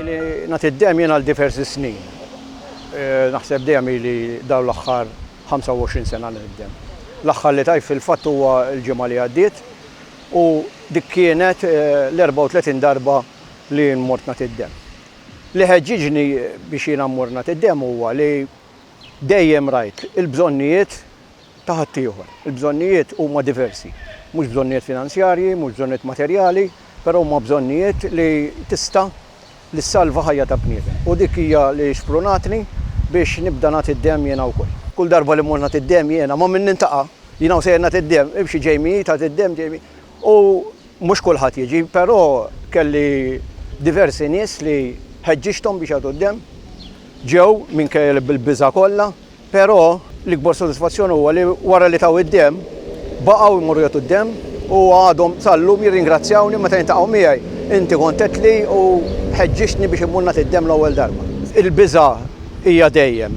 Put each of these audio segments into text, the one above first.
Ili nagħti d-dehem jien għal diversi snin. Naħseb dejjem ili dawn l-aħħar 25 sena nagħti d-dehem. L-aħħar li tajt fil-fatt huwa l-ġimgħa li għaddiet u dik kienet l-34 darba li jien mort nagħti d-dehem. Li ħeġġiġni biex jiena mmur nagħti d-dehem huwa li dejjem rajt il-bżonnijiet ta' ħaddieħor. Il-bżonnijiet huma diversi. Mhux bżonnijiet finanzjarji, mhux bżonnijiet materjali, però huma bżonnijiet li tista' li ssalva ħajja ta' bniedem. U dik hija li xprunatni biex nibda nagħti d-demm jiena wkoll. Kull darba li mmur nagħti d-demm jiena, ma' min nintaqa', jiena u sejjer nagħti d-demm, imxi Jamie, tagħti d-demm Jamie. U mhux kulħadd jiġi, però kelli diversi nies li ħeġġiġthom biex jagħtu d-demm. Ġew, minkejja li bil-biża' kollha. Però l-ikbar sodisfazzjon huwa li wara li taw id-demm, baqgħu jmorru jagħtu d-demm u għadhom sal-lum jirringrazzjawni meta jiltaqgħu miegħi, Inti kont għedtli u ħeġġiġtni biex immur nagħti d-demm l-ewwel darba. Il-biża' hija dejjem,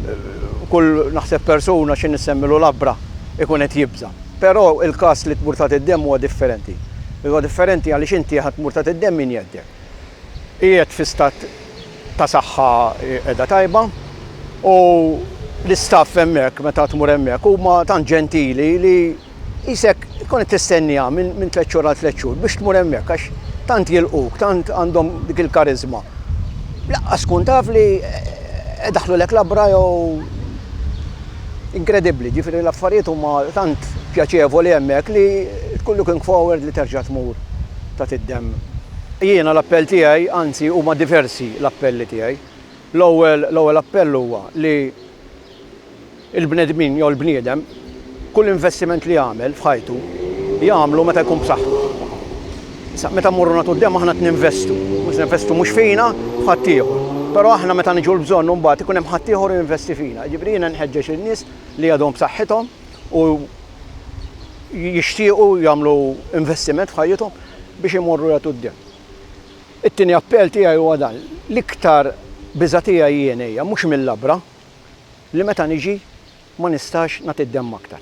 kull naħseb persuna xi nissemmilu labbra jkun qed jibża'. Però il-każ li tmur tagħti d-demm huwa differenti. Huwa differenti għaliex inti ħa tmur tagħti d-demm min jgħeddek. Qiegħed fi stat ta' saħħa qiegħda tajba u l-istaff hemmhekk meta tmur hemmhekk huma tant ġentili li qisek tkun qed tistenniha minn tliet xhur għal tliet xhur biex tmur hemmhekk għax tant jilqgħuk, tant għandhom dik il-kariżma. Lanqas tkun taf li qed idaħħlulek labra jew inkredibbli, jiġifieri l-affarijiet huma tant pjaċevoli hemmhekk li tkun looking forward li terġa' tmur tagħti d-demm. Jiena l-appell tiegħi, anzi huma diversi l-appelli tiegħi. L-ewwel l-ewwel appell huwa li l-bnedmin jew l-bniedem kull investiment li jagħmel f'ħajtu jagħmlu meta jkun b'saħħtu. Issa meta mmorru nagħtu d-demm aħna qed ninvestu, mhux ninvestu mhux fina, f'ħaddieħor. Però aħna meta niġu l-bżonn imbagħad ikun hemm ħaddieħor jinvesti fina. Jiġifieri jiena nħeġġeġ lin-nies li għadhom b'saħħithom, u jixtiequ jagħmlu investiment f'ħajjithom biex imorru jagħtu d-demm. It-tieni appell tiegħi huwa dan, l-iktar biża' tiegħi jien hija mhux mil-labra, li meta niġi ma nistax nagħti d-demm aktar.